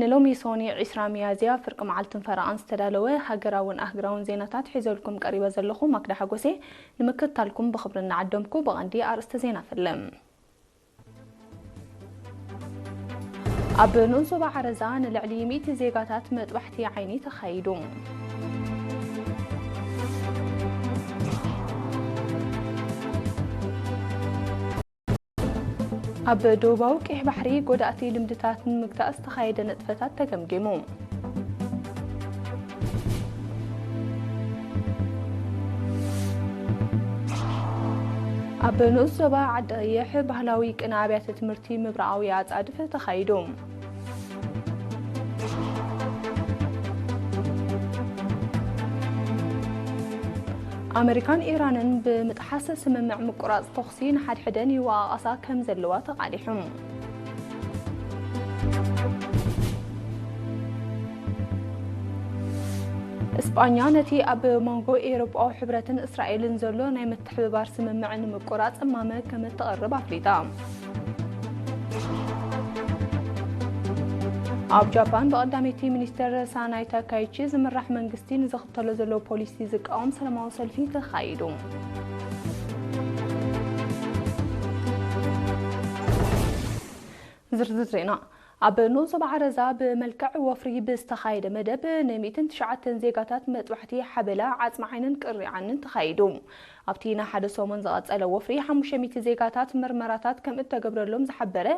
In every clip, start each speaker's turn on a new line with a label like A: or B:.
A: ንሎሚ ሶኒ ዕስራ ሚያዝያ ፍርቂ መዓልትን ፈረቓን ዝተዳለወ ሃገራውን ኣህግራውን ዜናታት ሒዘልኩም ቀሪበ ዘለኹ ማክዳ ሓጎስየ። ንምክትታልኩም ብኽብሪ እናዓደምኩ ብቐንዲ ኣርእስተ ዜና ፍልም። ኣብ ንኡስ ዞባ ዓረዛ ንልዕሊ ሚእቲ ዜጋታት መጥባሕቲ ዓይኒ ተኻይዱ። ኣብ ደቡባዊ ቀይሕ ባሕሪ ጎዳእቲ ልምድታት ንምግታእ ዝተኻየደ ንጥፈታት ተገምጊሙ። ኣብ ንኡስ ዞባ ዓዲ ቐይሕ ባህላዊ ቅነ ኣብያተ ትምህርቲ ምብራቓዊ ኣፃድፍ ተኻይዱ። ኣመሪካን ኢራንን ብምጥሓስ ስምምዕ ምቁራፅ ተኹሲ ንሓድሕደን ይወቓቓሳ ከም ዘለዋ ተቓሊሑ። እስጳኛ ነቲ ኣብ መንጎ ኤውሮጳዊ ሕብረትን እስራኤልን ዘሎ ናይ ምትሕብባር ስምምዕ ንምቁራጽ እማመ ከምእተቕርብ ኣፍሊጣ። ኣብ ጃፓን ብቐዳመይቲ ሚኒስትር ሳናይ ታካይቺ ዝምራሕ መንግስቲ ንዝኽተሎ ዘሎ ፖሊሲ ዝቃወም ሰላማዊ ሰልፊ ተኻይዱ። ዝርዝር ዜና ኣብ ንኡስ ዞባ ዓረዛ ብመልክዕ ወፍሪ ብዝተኻየደ መደብ ን ሚእትን ትሽዓተን ዜጋታት መጥባሕቲ ሓበላ ዓጽሚ ዓይንን ቅርኒ ዓንን ተኻይዱ። ኣብቲ ንሓደ ሰሙን ዝቐጸለ ወፍሪ ሓሙሽተ ሚእቲ ዜጋታት ምርመራታት ከምእተገብረሎም ዝሓበረ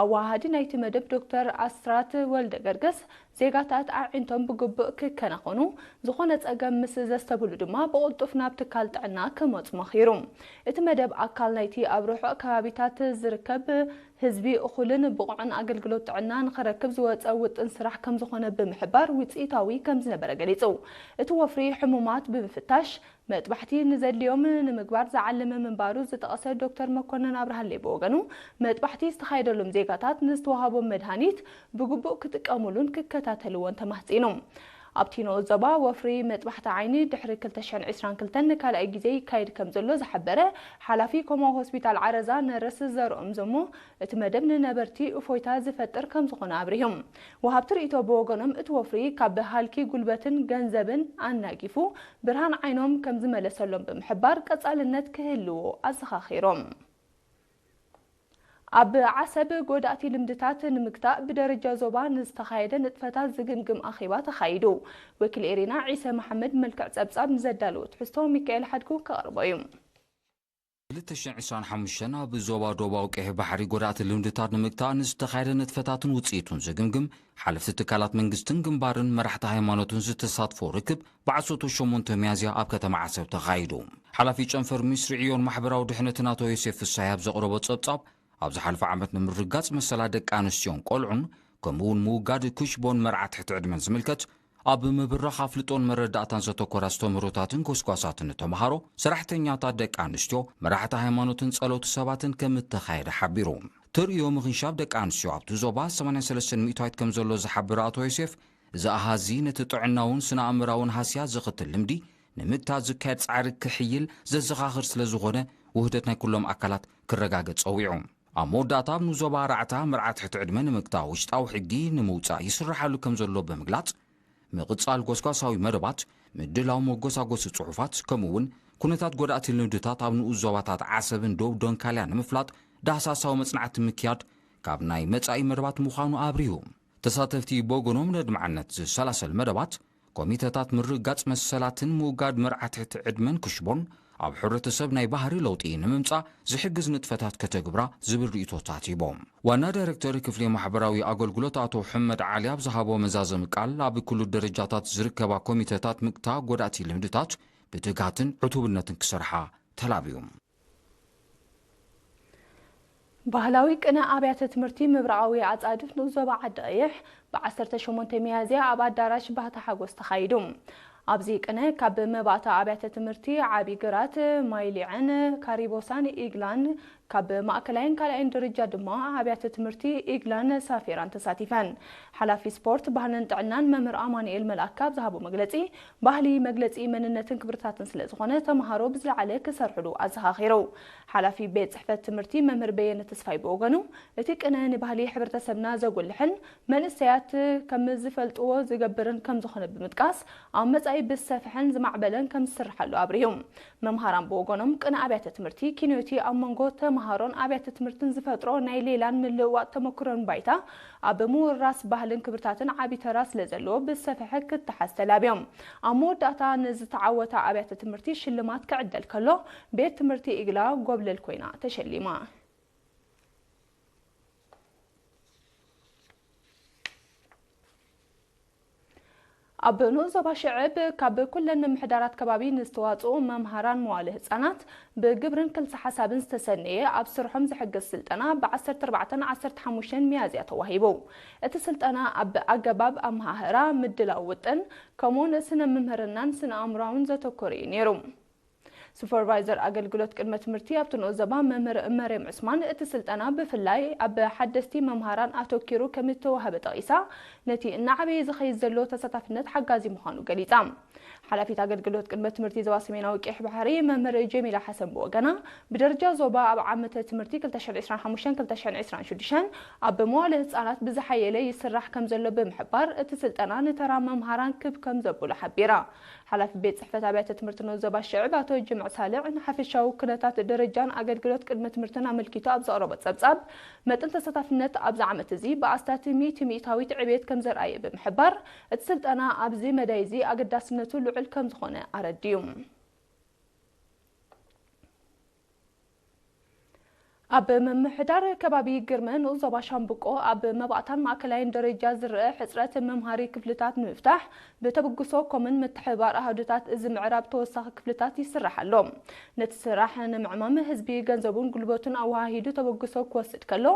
A: ኣወሃሃዲ ናይቲ መደብ ዶክተር ኣስራት ወልደገርግስ ዜጋታት ኣዒንቶም ብግቡእ ክከናኸኑ ዝኾነ ጸገም ምስ ዘስተብህሉ ድማ ብቕልጡፍ ናብ ትካል ጥዕና ክመጹ መኺሩ። እቲ መደብ ኣካል ናይቲ ኣብ ርሑቕ ከባቢታት ዝርከብ ህዝቢ እኹልን ብቑዕን ኣገልግሎት ጥዕና ንኽረክብ ዝወፀ ውጥን ስራሕ ከምዝኾነ ብምሕባር ውፅኢታዊ ከምዝነበረ ገሊፁ። እቲ ወፍሪ ሕሙማት ብምፍታሽ መጥባሕቲ ንዘድልዮም ንምግባር ዝዓለመ ምንባሩ ዝጠቐሰ ዶክተር መኮነን ኣብርሃለይ ብወገኑ መጥባሕቲ ዝተኻየደሎም ዜጋታት ንዝተወሃቦም መድሃኒት ብግቡእ ክጥቀሙሉን ክከታተልዎን ተማህፂኑ። ኣብቲ ንኡስ ዞባ ወፍሪ መጥባሕቲ ዓይኒ ድሕሪ ክልተ ሽሕን ዕስራን ክልተን ንካልኣይ ግዜ ይካየድ ከምዘሎ ዝሓበረ ሓላፊ ኮማ ሆስፒታል ዓረዛ ነርስ ዘርኦም ዘሞ እቲ መደብ ንነበርቲ እፎይታ ዝፈጥር ከምዝኾነ ኣብሪሁ። ወሃብቲ ርኢቶ ብወገኖም እቲ ወፍሪ ካብ ሃልኪ ጉልበትን ገንዘብን ኣናጊፉ ብርሃን ዓይኖም ከምዝመለሰሎም ብምሕባር ቀፃልነት ክህልዎ ኣዘኻኺሮም። ኣብ ዓሰብ ጎዳእቲ ልምድታት ንምግታእ ብደረጃ ዞባ ንዝተኻየደ ንጥፈታት ዝግምግም ኣኼባ ተኻይዱ። ወኪል ኤሪና ዒሰ መሓመድ ብመልክዕ ጸብጻብ ንዘዳለዎ ትሕዝቶ ሚካኤል ሓድጉ ከቕርቦ እዩ።
B: ክልተ ሽሕን ዕስራን ሓሙሽተን ኣብ ዞባ ዶባዊ ቀይሕ ባሕሪ ጎዳእቲ ልምድታት ንምግታእ ንዝተኻየደ ንጥፈታትን ውጽኢቱን ዝግምግም ሓለፍቲ ትካላት መንግስትን ግንባርን መራሕቲ ሃይማኖትን ዝተሳትፎ ርክብ ብዓሰርተ ሸሞንተ ሚያዝያ ኣብ ከተማ ዓሰብ ተኻይዱ። ሓላፊ ጨንፈር ሚስሪ ዕዮን ማሕበራዊ ድሕነትን ኣቶ ዮሴፍ ፍሳሃይ ኣብ ዘቕረቦ ጸብጻብ፣ ኣብ ዝሓለፈ ዓመት ንምርጋጽ መሰላት ደቂ ኣንስትዮን ቆልዑን ከምኡ'ውን ምውጋድ ኩሽቦን መርዓ ትሕቲ ዕድመን ዝምልከት ኣብ ምብራኽ ኣፍልጦን መረዳእታን ዘተኮረ ኣስተምህሮታትን ጎስጓሳትን ንተመሃሮ፣ ሰራሕተኛታት ደቂ ኣንስትዮ፣ መራሕቲ ሃይማኖትን ጸለውቲ ሰባትን ከምእተኻየደ ሓቢሩ። ተርእዮ ምኽንሻብ ደቂ ኣንስትዮ ኣብቲ ዞባ ሰማንያን ሰለስተን ሚእታዊት ከምዘሎ ዝሓብር ኣቶ ዮሴፍ፣ እዚ ኣሃዝዚ ነቲ ጥዕናውን ስነ-ኣእምራውን ሃስያ ዘኸትል ልምዲ ንምግታት ዝካየድ ጻዕሪ ክሕይል ዘዘኻኽር ስለ ዝኾነ ውህደት ናይ ኩሎም ኣካላት ክረጋገጽ ጸዊዑ። ኣብ መወዳእታ ኣብ ንዞባ ራዕታ መርዓ ትሕቲ ዕድመ ንምግታእ ውሽጣዊ ሕጊ ንምውጻእ ይስራሓሉ ከም ዘሎ ብምግላጽ፣ ምቕጻል ጎስጓሳዊ መደባት፣ ምድላው መጎሳጎሲ ጽሑፋት፣ ከምኡ'ውን ኩነታት ጎዳእቲ ልምድታት ኣብ ንኡስ ዞባታት ዓሰብን ዶብ ዶንካልያን ንምፍላጥ ዳህሳሳዊ መጽናዕቲ ምክያድ ካብ ናይ መጻኢ መደባት ምዃኑ ኣብሪሁ። ተሳተፍቲ ብወገኖም ነድማዕነት ዝሰላሰል መደባት፣ ኮሚተታት ምርግጋጽ መሰላትን ምውጋድ መርዓ ትሕቲ ዕድመን ክሽቦን፣ ኣብ ሕብረተሰብ ናይ ባህሪ ለውጢ ንምምጻእ ዝሕግዝ ንጥፈታት ከተግብራ ዝብል ርእይቶታት ሂቦም። ዋና ዳይረክተር ክፍሊ ማሕበራዊ ኣገልግሎት ኣቶ ሑመድ ዓሊ ኣብ ዝሃቦ መዛዘሚ ቃል፣ ኣብ ክሉ ደረጃታት ዝርከባ ኮሚተታት ምግታ ጎዳእቲ ልምድታት ብትግሃትን ዕቱብነትን ክሰርሓ ተላብዩ።
A: ባህላዊ ቅነ ኣብያተ ትምህርቲ ምብራቓዊ ኣፃድፍ ንኡስ ዞባ ዓዲ ቐይሕ ብ ዓሰርተ ሸሞንተ ሚያዝያ ኣብ ኣዳራሽ ባህታ ሓጎስ ተኻይዱ። ኣብዚ ቅነ ካብ መባእታ ኣብያተ ትምህርቲ ዓብዪ ግራት፣ ማይ ሊዐን፣ ካሪቦሳን ኢግላን ካብ ማእከላይን ካልኣይን ደረጃ ድማ ኣብያተ ትምህርቲ ኢግላን ሳፊራን ተሳቲፈን። ሓላፊ ስፖርት፣ ባህልን ጥዕናን መምህር ኣማኑኤል መልኣከ ኣብ ዝሃቦ መግለፂ ባህሊ መግለፂ መንነትን ክብርታትን ስለዝኾነ ተምሃሮ ብዝለዓለ ክሰርሕሉ ኣዘኻኺሩ። ሓላፊ ቤት ፅሕፈት ትምህርቲ መምህር በየነ ተስፋይ ብወገኑ፣ እቲ ቅነ ንባህሊ ሕብረተሰብና ዘጉልሕን መንእሰያት ከምዝፈልጥዎ ዝገብርን ከምዝኾነ ብምጥቃስ፣ ኣብ መፃኢ ብዝሰፈሐን ዝማዕበለን ከምዝስርሓሉ ኣብሪሁ። መምሃራን ብወገኖም ቅነ ኣብያተ ትምህርቲ ኪኖ'ቲ ኣብ መንጎ ተምሃሮን ኣብያተ ትምህርትን ዝፈጥሮ ናይ ሌላን ምልውዋጥ ተመክሮን ባይታ ኣብ ምውርራስ ባህልን ክብርታትን ዓቢ ተራ ስለ ዘለዎ ብዝሰፈሐ ክተሓዝ ተላብዮም። ኣብ መወዳእታ ንዝተዓወታ ኣብያተ ትምህርቲ ሽልማት ክዕደል ከሎ፣ ቤት ትምህርቲ ኢግላ ጎብለል ኮይና ተሸሊማ። ኣብ ንኡስ ዞባ ሽዕብ ካብ ኩለን ምምሕዳራት ከባቢ ንዝተዋፅኡ መምሃራን መዋእለ ህፃናት ብግብርን ክልሰ ሓሳብን ዝተሰነየ ኣብ ስርሖም ዝሕግዝ ስልጠና ብ ዓሰርተ ኣርባዕተን ዓሰርተ ሓሙሽተን ሚያዝያ ተዋሂቡ። እቲ ስልጠና ኣብ ኣገባብ ኣመሃህራ፣ ምድላው ውጥን ከምኡ እውን ስነ ምምህርናን ስነ ኣእምሮኣውን ዘተኮረ እዩ ነይሩ። ሱፐርቫይዘር ኣገልግሎት ቅድመ ትምህርቲ ኣብቲ ንኡስ ዘባ መምህር መርየም ዑስማን፣ እቲ ስልጠና ብፍላይ ኣብ ሓደስቲ መምሃራን ኣተኲሩ ከምዝተዋህበ ጠቒሳ፣ ነቲ እናዓበየ ዝኸይድ ዘሎ ተሳታፍነት ሓጋዚ ምዃኑ ገሊጻ። ሓላፊት ኣገልግሎት ቅድመ ትምህርቲ ዞባ ሰሜናዊ ቀይሕ ባሕሪ መምህር ጀሚላ ሓሰን ብወገና፣ ብደረጃ ዞባ ኣብ ዓመተ ትምህርቲ ክልተ ሽሕን ዕስራን ሓሙሽተን ክልተ ሽሕን ዕስራን ሽዱሽተን ኣብ መዋእለ ህጻናት ብዝሓየለ ይስራሕ ከምዘሎ ብምሕባር፣ እቲ ስልጠና ንተራ መምሃራን ክብ ከምዘብሎ ሓቢራ። ሓላፊ ቤት ፅሕፈት ኣብያተ ትምህርቲ ን ዞባ ሽዕብ ኣቶ ጅምዕ ሳልዕ ንሓፈሻዊ ኩነታት ደረጃን ኣገልግሎት ቅድመ ትምህርትን ኣመልኪቱ ኣብ ዘቕረቦ ፀብፃብ መጠን ተሳታፍነት ኣብዚ ዓመት እዚ ብኣስታት ሚእቲ ሚኢታዊት ዕብየት ከምዘርኣየ ብምሕባር እቲ ስልጠና ኣብዚ መዳይ እዚ ኣገዳስነቱ ልዑል ከምዝኾነ ኣረዲኡ። ኣብ ምምሕዳር ከባቢ ግርመ ንኡስ ዞባ ሻምብቆ ኣብ መባእታን ማእከላይን ደረጃ ዝረኣ ሕፅረት መምሃሪ ክፍልታት ንምፍታሕ ብተብግሶ ኮምን ምትሕብባር ኣሃዱታት እዚ ምዕራብ ተወሳኺ ክፍልታት ይስራሕ ኣሎ። ነቲ ስራሕ ንምዕማም ህዝቢ ገንዘቡን ጉልበቱን ኣወሃሂዱ ተበግሶ ክወስድ ከሎ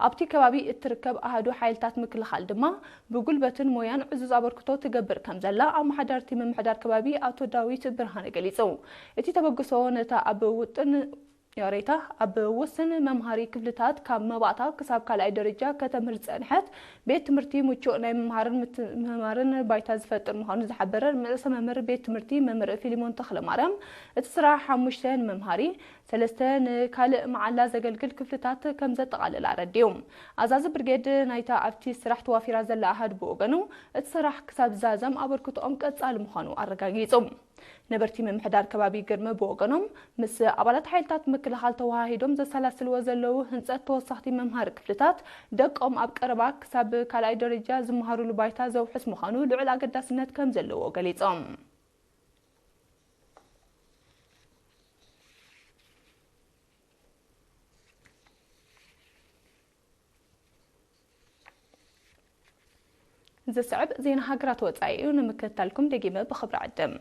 A: ኣብቲ ከባቢ እትርከብ ኣሃዱ ሓይልታት ምክልኻል ድማ ብጉልበትን ሞያን ዕዙዝ ኣበርክቶ ትገብር ከምዘላ ኣመሓዳርቲ ምምሕዳር ከባቢ ኣቶ ዳዊት ብርሃነ ገሊፁ። እቲ ተበግሶ ነታ ኣብ ውጥን ያሬታ ኣብ ውስን መምሃሪ ክፍልታት ካብ መባእታ ክሳብ ካልኣይ ደረጃ ከተምህር ዝፀንሐት ቤት ትምህርቲ ምቹእ ናይ ምምሃርን ምትምህማርን ባይታ ዝፈጥር ምዃኑ ዝሓበረ ርእሰ መምህር ቤት ትምህርቲ መምህር ፊሊሞን ተኽለማርያም እቲ ስራሕ ሓሙሽተ ንመምሃሪ ሰለስተ ንካልእ መዓላ ዘገልግል ክፍልታት ከም ዘጠቓለለ ኣረዲኡ። ኣዛዚ ብርጌድ ናይታ ኣብቲ ስራሕ ተዋፊራ ዘላ ኣሃዱ ብወገኑ፣ እቲ ስራሕ ክሳብ ዝዛዘም ኣበርክቶኦም ቀጻሊ ምዃኑ ኣረጋጊጹ። ነበርቲ ምምሕዳር ከባቢ ግርሚ ብወገኖም፣ ምስ ኣባላት ሓይልታት ምክልኻል ተወሃሂዶም ዘሰላስልዎ ዘለዉ ህንጸት ተወሰኽቲ መምሃሪ ክፍልታት፣ ደቆም ኣብ ቀረባ ክሳብ ካልኣይ ደረጃ ዝመሃሩሉ ባይታ ዘውሕስ ምዃኑ ልዑል ኣገዳስነት ከም ዘለዎ ገሊጾም። ዝስዕብ ዜና ሃገራት ወጻኢ እዩ፣ ንምክትታልኩም ደጊመ ብኽብሪ ዕድም።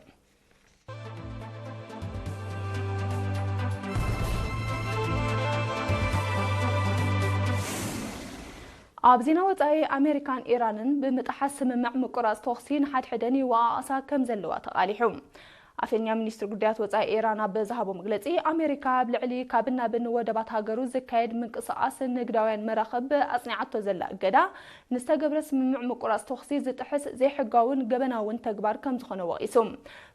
A: ኣብ ዜና ወጻኢ ኣመሪካን ኢራንን ብምጥሓስ ስምምዕ ምቁራጽ ተኹሲ ንሓድሕደን ይወቓቐሳ ከም ዘለዋ ተቓሊሑ። ኣፈኛ ሚኒስትሪ ጉዳያት ወጻኢ ኢራን ኣብ ዝሃቦ መግለጺ፣ ኣመሪካ ኣብ ልዕሊ ካብን ናብን ወደባት ሃገሩ ዝካየድ ምንቅስቓስ ንግዳውያን መራኽብ ኣጽኒዓቶ ዘላ እገዳ ንዝተገብረ ስምምዕ ምቁራጽ ተኹሲ ዝጥሕስ ዘይሕጋውን ገበናውን ተግባር ከም ዝኾነ ወቒሱ።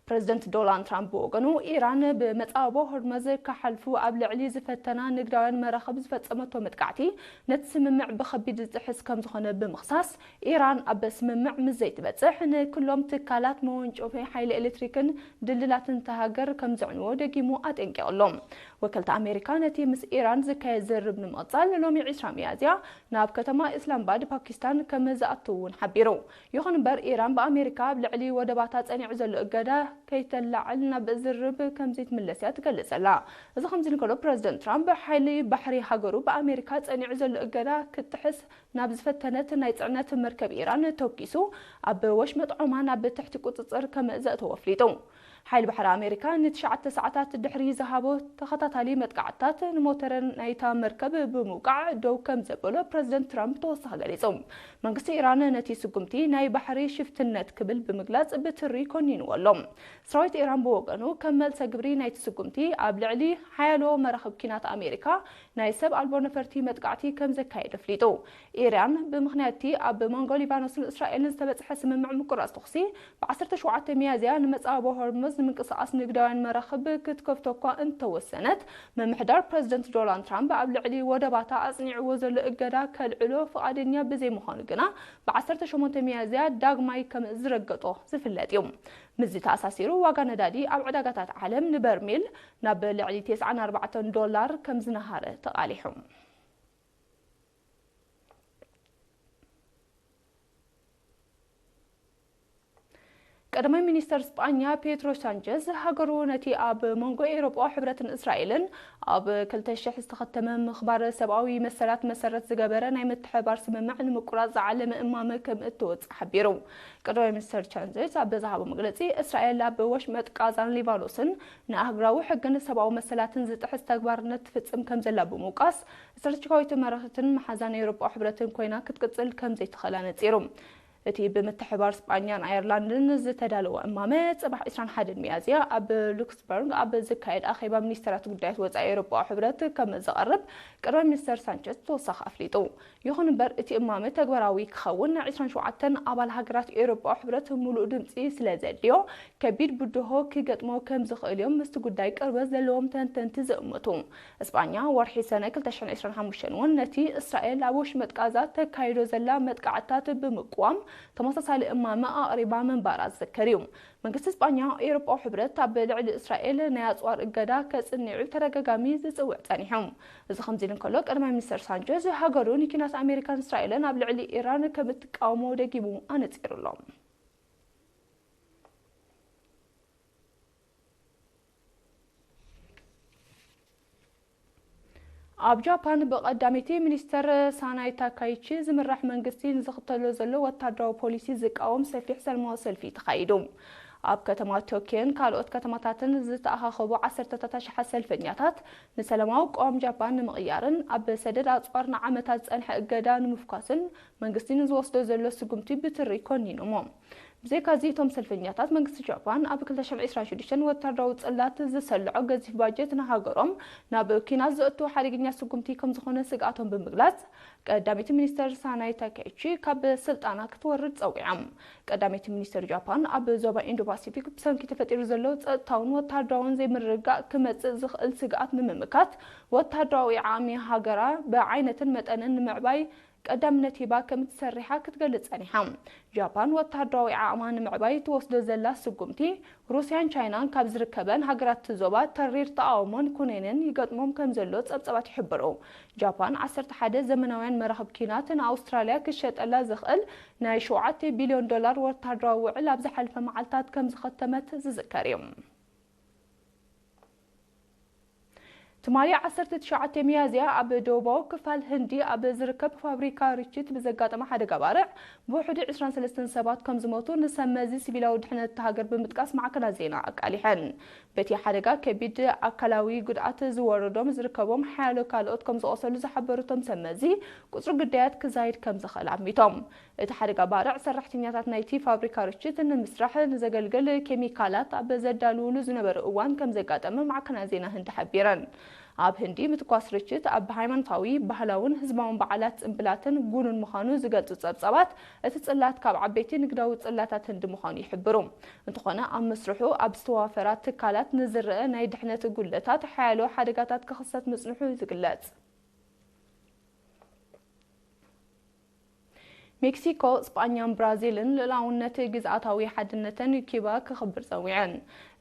A: ፕረዚደንት ዶላን ትራምፕ ብወገኑ፣ ኢራን ብመጻብቦ ሆርመዝ ክሓልፉ ኣብ ልዕሊ ዝፈተና ንግዳውያን መራኽብ ዝፈጸመቶ መጥቃዕቲ፣ ነቲ ስምምዕ ብኸቢድ ዝጥሕስ ከምዝኾነ ብምኽሳስ፣ ኢራን ኣብ ስምምዕ ምስ ዘይትበጽሕ ንክሎም ትካላት መወንጨፊ ሓይሊ ኤሌክትሪክን ድልድላትን እታ ሃገር ከምዘዕንዎ ደጊሙ ኣጠንቂቑ ኣሎ። ወከልቲ ኣሜሪካ ነቲ ምስ ኢራን ዝካየድ ዝርርብ ንምቕጻል ሎሚ ዕስራ ሚያዝያ ናብ ከተማ ኢስላምባድ፣ ፓኪስታን፣ ከምዝኣትው እውን ሓቢሩ። ይኹን እምበር ኢራን ብኣሜሪካ ኣብ ልዕሊ ወደባታ ጸኒዑ ዘሎ እገዳ ከይተላዕል ናብ ዝርርብ ከምዘይትምለስ እያ ትገልጽ ዘላ። እዚ ከምዚ እንከሎ ፕረዚደንት ትራምፕ ሓይሊ ባሕሪ ሃገሩ ብኣሜሪካ ጸኒዑ ዘሎ እገዳ ክትጥሕስ ናብ ዝፈተነት ናይ ጽዕነት መርከብ ኢራን ተውኪሱ ኣብ ወሽመጥ ዖማን ኣብ ትሕቲ ቁጽጽር ከም ዘእተዎ ኣፍሊጡ። ሓይሊ ባሕሪ ኣሜሪካ ንትሽዓተ ሰዓታት ድሕሪ ዝሃቦ ተኸታታሊ መጥቃዕትታት ንሞተረ ናይታ መርከብ ብምውቃዕ ደው ከምዘበሎ ፕረዚደንት ትራምፕ ተወሳኺ ገሊጹ። መንግስቲ ኢራን ነቲ ስጉምቲ ናይ ባሕሪ ሽፍትነት ክብል ብምግላጽ ብትሪ ኮኒንዎ ኣሎ። ሰራዊት ኢራን ብወገኑ ከም መልሰ ግብሪ ናይቲ ስጉምቲ ኣብ ልዕሊ ሓያሎ መራኽብ ኲናት ኣሜሪካ ናይ ሰብ ኣልቦ ነፈርቲ መጥቃዕቲ ከምዘካየደ ኣፍሊጡ። ኢራን ብምኽንያት'ቲ ኣብ መንጎ ሊባኖስን እስራኤልን ዝተበጽሐ ስምምዕ ምቁራጽ ተኹሲ ብ ዓሰርተ ሸውዓተ ሚያዝያ ንመጻብቦ ሆርሙዝ ንምንቅስቓስ ንግዳውያን መራኽብ ክትከፍቶ'ኳ እንተወሰነት፣ ምምሕዳር ፕረዚደንት ዶላንድ ትራምፕ ኣብ ልዕሊ ወደባታ ኣጽኒዕዎ ዘሎ እገዳ ከልዕሎ ፍቓደኛ ብዘይምዃኑ ግና ብ ዓሰርተ ሸሞንተ ሚያዝያ ዳግማይ ከም ዝረገጦ ዝፍለጥ እዩ። ምስዚ ተኣሳሲሩ ዋጋ ነዳዲ ኣብ ዕዳጋታት ዓለም ንበርሚል ናብ ልዕሊ ተስዓን ኣርባዕተን ዶላር ከም ዝነሃረ ተቓሊሑ። ቀዳማይ ሚኒስተር ስጳኛ ፔትሮ ሳንቸዝ ሃገሩ ነቲ ኣብ መንጎ ኤውሮጳዊ ሕብረትን እስራኤልን ኣብ ክልተ ሽሕ ዝተኸተመ ምኽባር ሰብኣዊ መሰላት መሰረት ዝገበረ ናይ ምትሕብባር ስምምዕ ንምቁራጽ ዝዓለመ እማመ ከም እትወጽእ ሓቢሩ። ቀዳማይ ሚኒስተር ቻንዘዝ ኣብ ዝሃቦ መግለጺ እስራኤል ኣብ ወሽመጥ ቃዛን ሊባኖስን ንኣህግራዊ ሕግን ሰብኣዊ መሰላትን ዝጥሕስ ተግባርነት ትፍጽም ከምዘላ ብምውቃስ ስትራቴጂካዊት መራሕትን መሓዛን ኤውሮጳዊ ሕብረትን ኮይና ክትቅጽል ከም ዘይትኽእል ኣነጺሩ። እቲ ብምትሕብባር ስጳኛን ኣየርላንድን ዝተዳለወ እማመ፣ ጽባሕ ዕስራን ሓደን ሚያዝያ ኣብ ሉክስምበርግ ኣብ ዝካየድ ኣኼባ ሚኒስተራት ጉዳያት ወጻኢ ኤውሮጳዊ ሕብረት ከም ዝቐርብ ቀዳማይ ሚኒስተር ሳንቸዝ ብተወሳኺ ኣፍሊጡ። ይኹን እምበር እቲ እማመ ተግባራዊ ክኸውን ዕስራን ሸውዓተን ኣባል ሃገራት ኤውሮጳዊ ሕብረት ምሉእ ድምጺ ስለ ዘድልዮ ከቢድ ብድሆ ክገጥሞ ከም ዝኽእል'ዮም ምስቲ ጉዳይ ቅርበት ዘለዎም ተንተንቲ ዝእምቱ። እስጳኛ ወርሒ ሰነ ክልተ ሽሕን ዕስራን ሓሙሽተን እውን ነቲ እስራኤል ኣብ ወሽመጥ ቃዛ ተካይዶ ዘላ መጥቃዕትታት ብምቅዋም ተመሳሳሊ እማመ ኣቕሪባ ምንባራ ዝዝከር እዩ። መንግስቲ እስጳኛ ኤውሮጳዊ ሕብረት ኣብ ልዕሊ እስራኤል ናይ ኣጽዋር እገዳ ከጽንዕ ብተደጋጋሚ ዝጽውዕ ጸኒሑ። እዚ ከምዚ ኢሉ እንከሎ ቀዳማይ ሚኒስተር ሳንቸዝ ሃገሩ ንኲናት ኣሜሪካን እስራኤልን ኣብ ልዕሊ ኢራን ከም እትቃወሞ ደጊሙ ኣነጺሩ ኣሎ። ኣብ ጃፓን ብቀዳመይቲ ሚኒስተር ሳናይ ታካይቺ ዝምራሕ መንግስቲ ንዝኽተሎ ዘሎ ወታደራዊ ፖሊሲ ዝቃወም ሰፊሕ ሰልማዊ ሰልፊ ተኻይዱ። ኣብ ከተማ ቶክዮን ካልኦት ከተማታትን ዝተኣኻኸቡ ዓሰርተታት ኣሽሓት ሰልፈኛታት ንሰለማዊ ቅዋም ጃፓን ንምቕያርን ኣብ ሰደድ ኣጽዋር ንዓመታት ዝጸንሐ እገዳ ንምፍኳስን መንግስቲ ንዝወስዶ ዘሎ ስጉምቲ ብትሪ ኮኒኖሞ። ብዘይካ'ዚ እቶም ሰልፈኛታት፣ መንግስቲ ጃፓን ኣብ ክልተ ሽሕን ዕስራን ሽዱሽተን ወተሃደራዊ ጽላት ዝሰልዖ ገዚፍ ባጀት ንሃገሮም ናብ ኲናት ዘእቱ ሓደገኛ ስጉምቲ ከምዝኾነ ስግኣቶም ብምግላጽ ቀዳመይቲ ሚኒስተር ሳናይ ታካይቺ ካብ ስልጣና ክትወርድ ጸዊዖም። ቀዳመይቲ ሚኒስተር ጃፓን ኣብ ዞባ ኢንዶ-ፓሲፊክ ብሰንኪ ተፈጢሩ ዘሎ ጸጥታውን ወተሃደራውን ዘይምርግጋእ ክመጽእ ዝኽእል ስግኣት ንምምካት ወተሃደራዊ ዓቕሚ ሃገራ ብዓይነትን መጠንን ንምዕባይ ቀዳምነት ሂባ ከም እትሰርሕ'ያ ክትገልጽ ጸኒሓ። ጃፓን ወተሃደራዊ ዓቕማ ንምዕባይ እትወስዶ ዘላ ስጉምቲ፣ ሩስያን ቻይናን ካብ ዝርከበን ሃገራት'ቲ ዞባ ተሪር ተቓውሞን ኩነኔን ይገጥሞም ከም ዘሎ ጸብጸባት ይሕብሩ። ጃፓን ዓሰርተ ሓደ ዘመናውያን መራኽብ ኲናት ንኣውስትራልያ ክሸጠላ ዘኽእል ናይ ሸውዓተ ቢልዮን ዶላር ወተሃደራዊ ውዕል ኣብ ዝሓለፈ መዓልታት ከም ዘኸተመት ዝዝከር'ዩ። ትማሊ ዓሰርተ ትሽዓተ ሚያዝያ ኣብ ደቡባዊ ክፋል ህንዲ ኣብ ዝርከብ ፋብሪካ ርችት ብዘጋጠመ ሓደጋ ባርዕ ብውሕዱ ዕስራን ሰለስተን ሰባት ከምዝሞቱ ንሰብ መዚ ሲቪላዊ ድሕነት እታ ሃገር ብምጥቃስ ማዕከናት ዜና ኣቃሊሐን። በቲ ሓደጋ ከቢድ ኣካላዊ ጉድኣት ዝወረዶም ዝርከቦም ሓያሎ ካልኦት ከምዝቖሰሉ ዝሓበሩ እቶም ሰብ መዚ፣ ቁጽሪ ግዳያት ክዛይድ ከምዝኽእል ኣሚቶም። እቲ ሓደጋ ባርዕ ሰራሕተኛታት ናይቲ ፋብሪካ ርችት ንምስራሕ ንዘገልግል ኬሚካላት ኣብ ዘዳልዉሉ ዝነበሩ እዋን ከምዘጋጠመ ማዕከናት ዜና ህንዲ ሓቢረን። ኣብ ህንዲ ምትኳስ ርችት ኣብ ሃይማኖታዊ፣ ባህላውን ህዝባውን በዓላት ጽምብላትን ጉኑን ምዃኑ ዝገልጹ ጸብጻባት፣ እቲ ጽላት ካብ ዓበይቲ ንግዳዊ ጽላታት ህንዲ ምዃኑ ይሕብሩ። እንተኾነ ኣብ መስርሑ ኣብ ዝተዋፈራ ትካላት ንዝረኣ ናይ ድሕነት ጉድለታት ሓያሎ ሓደጋታት ክኽሰት ምጽንሑ እዩ ዝግለጽ። ሜክሲኮ፣ ስጳኛን ብራዚልን ልኡላውነት ግዝኣታዊ ሓድነተን ኪባ ከኽብር ጸዊዐን።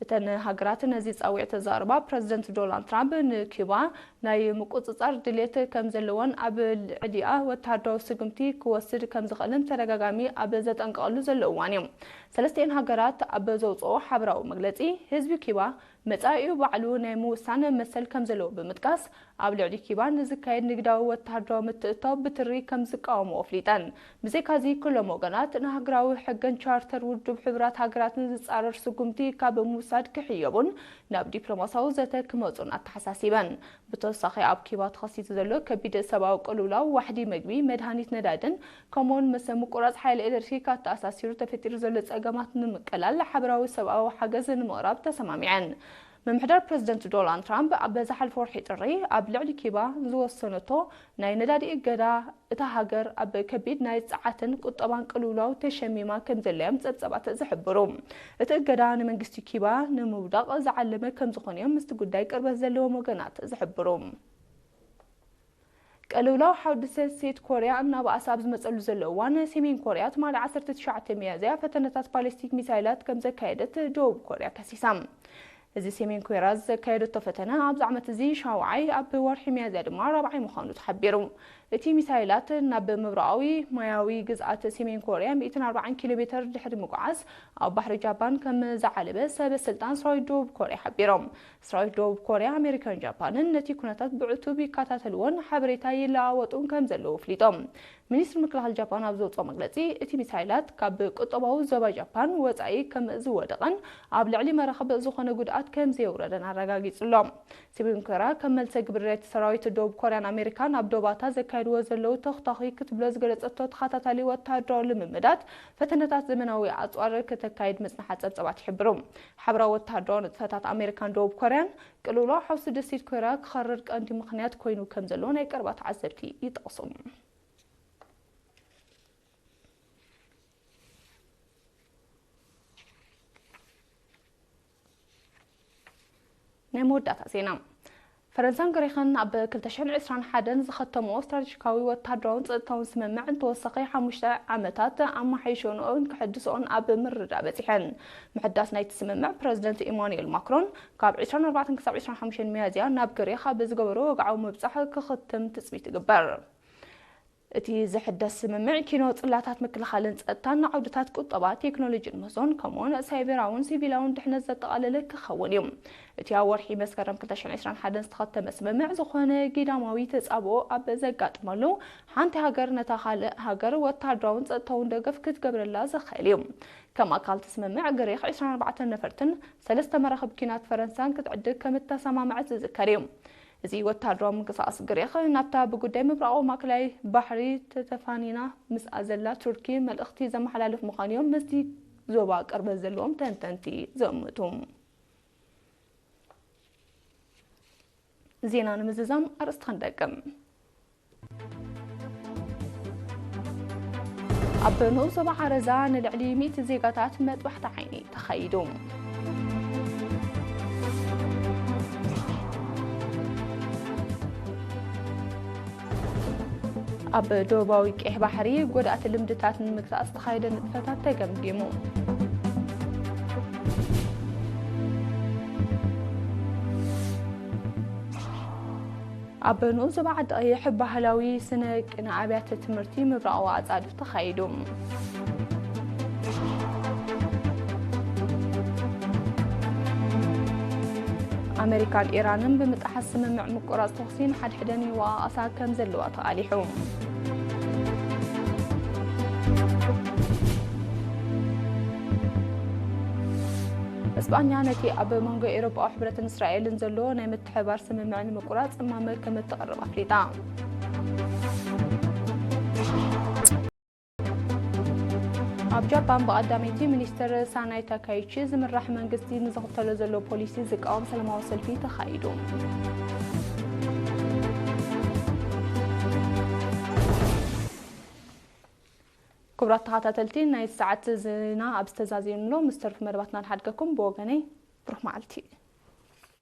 A: እተን ሃገራት ነዚ ጻዊዒት ዘቕርባ፣ ፕረዚደንት ዶላንድ ትራምፕ ንኪባ ናይ ምቁጽጻር ድልየት ከምዘለዎን ኣብ ልዕሊኣ ወተሃደራዊ ስጉምቲ ክወስድ ከምዝኽእልን ብተደጋጋሚ ኣብ ዘጠንቅቐሉ ዘሎ እዋን'ዩ። ሰለስቲኤን ሃገራት ኣብ ዘውጽእኦ ሓበራዊ መግለጺ፣ ህዝቢ ኪባ መጻኢኡ ባዕሉ ናይ ምውሳን መሰል ከም ዘለዎ ብምጥቃስ፣ ኣብ ልዕሊ ኪባ ንዝካየድ ንግዳዊ ወተሃደራዊ ምትእትታው ብትሪ ከም ዝቃወምኦ ኣፍሊጠን። ብዘይካዚ ኩሎም ወገናት ንሃገራዊ ሕግን ቻርተር ውድብ ሕቡራት ሃገራትን ዝጻረር ስጉምቲ ካብ ምውሳድ ክሕየቡን ናብ ዲፕሎማስያዊ ዘተ ክመጹን ኣተሓሳሲበን። ብተወሳኺ ኣብ ኪባ ተኸሲቱ ዘሎ ከቢድ ሰብኣዊ ቅልውላው ዋሕዲ መግቢ፣ መድሃኒት፣ ነዳድን ከምኡ'ውን ምስ ምቁራጽ ሓይሊ ኤለትሪክ ኣተኣሳሲሩ ተፈጢሩ ዘሎ ጸገማት ንምቅላል ሓበራዊ ሰብኣዊ ሓገዝ ንምቕራብ ተሰማሚዐን። ምምሕዳር ፕረዚደንት ዶላንድ ትራምፕ ኣብ ዝሓልፈ ወርሒ ጥሪ ኣብ ልዕሊ ኪባ ዝወሰነቶ ናይ ነዳዲ እገዳ፣ እታ ሃገር ኣብ ከቢድ ናይ ጸዓትን ቁጠባን ቅልውላው ተሸሚማ ከምዘላ'ዮም ጸብጸባት ዝሕብሩ። እቲ እገዳ ንመንግስቲ ኪባ ንምውዳቕ ዝዓለመ ከምዝኾነ'ዮም ምስቲ ጉዳይ ቅርበት ዘለዎም ወገናት ዝሕብሩ። ቅልውላው ሓድሰ ሴት ኮርያ እናበኣሰ ኣብ ዝመጸሉ ዘሎ እዋን፣ ሰሜን ኮርያ ትማሊ ዓሰርተ ትሽዓተ ሚያዝያ ፈተነታት ባሊስቲክ ሚሳይላት ከምዘካየደት ደቡብ ኮርያ ከሲሳ። እዚ ሰሜን ኮርያ ዘካየደቶ ፈተነ ኣብዚ ዓመት እዚ ሻውዓይ፣ ኣብ ወርሒ ሚያዝያ ድማ ራብዓይ ምዃኑ ተሓቢሩ። እቲ ሚሳይላት ናብ ምብራቓዊ ማያዊ ግዝኣት ሰሜን ኮርያ ሚእትን ኣርባዓን ኪሎ ሜተር ድሕሪ ምጉዓዝ ኣብ ባሕሪ ጃፓን ከምዝዓለበ ሰበ ስልጣን ሰራዊት ደቡብ ኮርያ ሓቢሮም። ሰራዊት ደቡብ ኮርያ፣ ኣሜሪካን ጃፓንን ነቲ ኩነታት ብዕቱብ ይከታተልዎን ሓበሬታ ይለዋወጡን ከም ዘለዉ ኣፍሊጦም። ሚኒስትሪ ምክልኻል ጃፓን ኣብ ዘውጽኦ መግለጺ፣ እቲ ሚሳይላት ካብ ቁጠባዊ ዞባ ጃፓን ወጻኢ ከም ዝወደቐን ኣብ ልዕሊ መራኽብ ዝኾነ ጉድኣት ከም ዘየውረደን ኣረጋጊጹ'ሎ። ሰሜን ኮርያ ከም መልሰ ግብሪ ነቲ ሰራዊት ደቡብ ኮርያን ኣሜሪካን ኣብ ዶባታ ዘካይድዎ ዘለዉ ተኹታዂ ክትብሎ ዝገለጸቶ ተኸታታሊ ወተሃደራዊ ልምምዳት ፈተነታት ዘመናዊ ኣጽዋር ከተካይድ ምጽንሓ ጸብጻባት ይሕብሩ። ሓበራዊ ወተሃደራዊ ንጥፈታት ኣመሪካን ደቡብ ኮርያን፣ ቅልውላው ሓውሲ ደሴት ኮርያ ክኸርር ቀንዲ ምኽንያት ኮይኑ ከምዘሎ ናይ ቀረባ ተዓዘብቲ ይጠቕሱ። ናይ መወዳእታ ዜና ፈረንሳን ግሪኽን ኣብ ክልተ ሽሕን ዕስራን ሓደን ዝኸተምኦ ስትራቴጂካዊ ወተሃደራውን ጸጥታውን ስምምዕ ንተወሳኺ ሓሙሽተ ዓመታት ኣመሓይሸንኦን ከሐድስኦን ኣብ ምርድዳእ በጺሐን። ምሕዳስ ናይቲ ስምምዕ ፕረዚደንት ኢማኑኤል ማክሮን ካብ ዕስራን ኣርባዕተን ክሳብ ዕስራን ሓሙሽተን ሚያዝያ ናብ ግሪኽ ኣብ ዝገበሮ ወግዓዊ ምብጻሕ ክኽትም ትጽቢት ይግበር። እቲ ዝሕደስ ስምምዕ፣ ኪኖ ጽላታት ምክልኻልን ጸጥታን ንዓውድታት ቁጠባ፣ ቴክኖሎጂን ምህዞን፣ ከምኡ'ውን ሳይበራውን ሲቪላውን ድሕነት ዘጠቓለለ ክኸውን እዩ። እቲ ኣብ ወርሒ መስከረም ክልተ ሽሕን ዕስራን ሓደን ዝተኸተመ ስምምዕ፣ ዝኾነ ጊዳማዊ ተጻብኦ ኣብ ዘጋጥመሉ፣ ሓንቲ ሃገር ነታ ካልእ ሃገር ወተሃደራውን ጸጥታውን ደገፍ ክትገብረላ ዘኽእል እዩ። ከም ኣካል እቲ ስምምዕ፣ ግሪኽ ዕስራን ኣርባዕተን ነፈርትን ሰለስተ መራኽብ ኲናት ፈረንሳን ክትዕድግ ከም እተሰማምዐት ዝዝከር እዩ። እዚ ወተሃደራዊ ምንቅስቓስ ግሪኽ ናብታ ብጉዳይ ምብራቓዊ ማእከላይ ባሕሪ ተተፋኒና ምስኣ ዘላ ቱርኪ መልእኽቲ ዘመሓላልፍ ምዃኑ'ዮም ምስቲ ዞባ ቅርበት ዘለዎም ተንተንቲ ዝእምቱ። ዜና ንምዝዛም ኣርእስቲ ክንደግም። ኣብ ንኡስ ዞባ ዓረዛ ንልዕሊ ሚእቲ ዜጋታት መጥባሕቲ ዓይኒ ተኻይዱ። ኣብ ደቡባዊ ቀይሕ ባሕሪ ጎዳእቲ ልምድታት ንምግታእ ዝተኻየደ ንጥፈታት ተገምጊሙ። ኣብ ንኡስ ዞባ ዓዲ ቐይሕ ባህላዊ ስነ ቅነ ኣብያተ ትምህርቲ ምብራቓዊ ኣፃድፍ ተኻይዱ። ኣመሪካን ኢራንን ብምጥሓስ ስምምዕ ምቁራፅ ተኹሲ ንሓድሕደን ይወቓቐሳ ከም ዘለዋ ተቓሊሑ። እስጳኛ ነቲ ኣብ መንጎ ኤውሮጳዊ ሕብረትን እስራኤልን ዘሎ ናይ ሓባር ስምምዕ ንምቁራፅ እማመ ከምእትቕርብ ኣፍሊጣ። ኣብ ጃፓን ብቀዳመይቲ ሚኒስትር ሳናይ ታካይቺ ዝምራሕ መንግስቲ ንዝኽተሎ ዘሎ ፖሊሲ ዝቃወም ሰላማዊ ሰልፊ ተኻይዱ። ክቡራት ተኸታተልቲ ናይ ሰዓት ዜና ኣብ ዝተዛዘየንሎ ምስ ተርፉ መደባትና ንሓድገኩም ብወገነይ ብሩኽ መዓልቲ